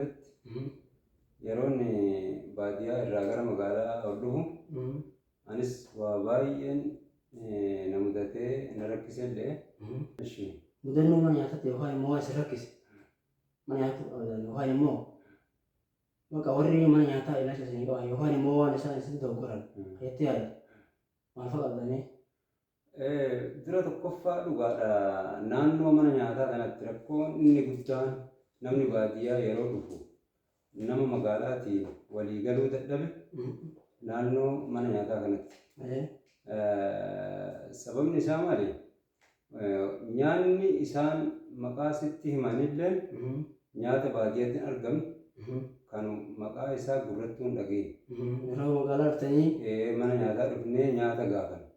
irratti yeroon baadiyyaa irraa gara magaalaa ol dhufu anis waa baay'een na mudatee na rakkise illee. Ishi. Mudannoo mana nyaataatti yookaan immoo waan isin rakkise mana nyaata qabataan yookaan immoo bakka warri mana nyaataa ilaalcha isinii qaban yookaan immoo waan isaan isin doggoran jettee yaaddu maal fa'a qabdanii? Dura tokkoffaa dhugaadha naannoo mana nyaataa kanatti rakkoon inni guddaan namni baadiyyaa yeroo dhufu nama magaalaatiin walii galuu dadhabe naannoo mana nyaataa kanatti. Sababni isaa maali? Nyaanni isaan maqaa sitti himanillee nyaata baadiyyaatti hin argamu. Kan maqaa isaa gurrattuu hin dhageenye. Yeroo magaalaa dhuftanii Mana nyaataa dhufnee nyaata gaafanna.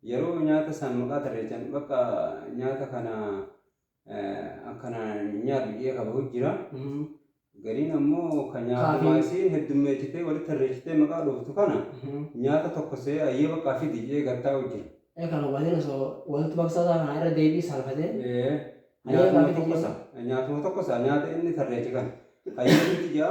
Yeroo nyaata isaan maqaa tarreessan bakka nyaata kana akkana nyaadhu jedhee kabahu jira. Gariin ammoo kan nyaatamaa isiin heddummeessitee walitti tarreessitee maqaa dhooftu kana nyaata tokko see ayyee bakka fidi jedhee gattaa'u jira. Ee kana hubateen osoo walitti baksaa isaa kana irra deebii salfatee. Nyaatuma tokkosa nyaatuma tokkosa nyaata inni tarreessi kana ayyee fidi jedha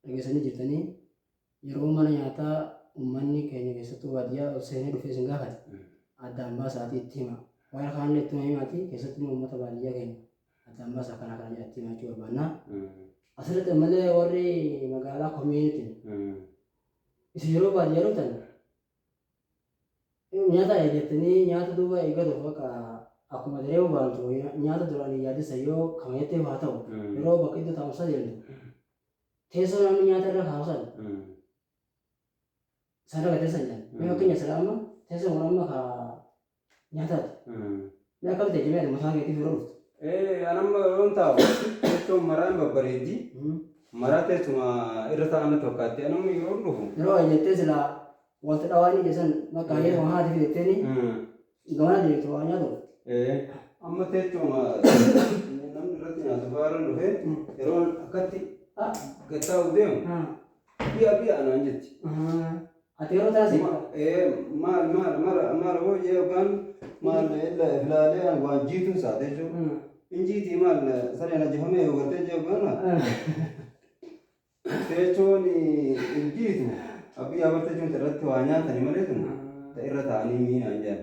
Dhageessanii jirtanii yeroo mana nyaataa uummanni keenya keessattuu baadiyyaa ol seenee dhufee isin gaafate addaan baasaatii itti hima. Warra kaanillee ittuma himaati keessatti immoo uummata baadiyyaa keenya addaan baasaa kanaa kana jedha itti himaa jechuu barbaanna. Asirratti ammallee warri magaalaa komiinitiin isin yeroo baadiyyaa dhuftan nyaata eeggattanii nyaata duuba eeggatuuf bakka akkuma daree bobaantu nyaata duraan hin yaadessa yoo kama jetteef haa ta'u yeroo bakka iddoo taa'umsaa deemtu Teessoo namni nyaata irra kaa'u san sana irra teessan jedhan. Mee fakkeenya sila amma teessoon kun amma ka nyaataati. Mee akkam ta'e jimee ati mataa keetii fuula dhuftu. Ee anamma yoon taa'u teessoon maraan babbareeddi. Maraa teessuma irra taa'an natti fakkaatti anamma yeroon dhufu. Yeroo jettee sila wanta dhawaa inni jedhe san bakka hayyee waan haati fidetteenii Dhugaa jeetu waan nyaatu irratti. Amma teechuma namni irratti nyaatu fa'aa irra dhufee yeroo akkatti gattaa'u deemu bi'a bi'a anaan jetti. Ati yeroo taasise. Maal maal mara mara hoo jee yookaan maal filaalee ani waan jiituun saate jechuudha. Injiitii maal sareen ajjifamee yoo gartee jee yookaan Teechoon hin jiitu. Abbiy Ahmad teechoon ta irratti waa nyaatani malee tun ta irra taa'anii mii naan jedhan.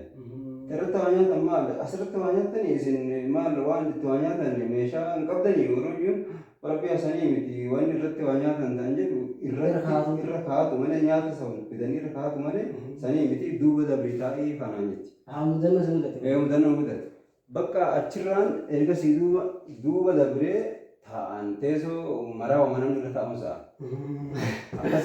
Ta irratti waa nyaatan maal asirratti waa nyaattanii isin maal waan itti waa nyaatan meeshaa hin qabdanii warri iyyuun rabbi hasanii miti waan irratti waa nyaatan ta'an jedhu irratti irra kaa'atu malee nyaata san fidanii irra kaa'atu malee sanii miti duuba dabrii taa'ii fanaan jetti. Haa mudannoo si mudate. Ee mudannoo mudate. Bakka achirraan ergasii duuba duuba dabree taa'aan teesoo maraa wama namni irra taa'uun sa'a. Akkas.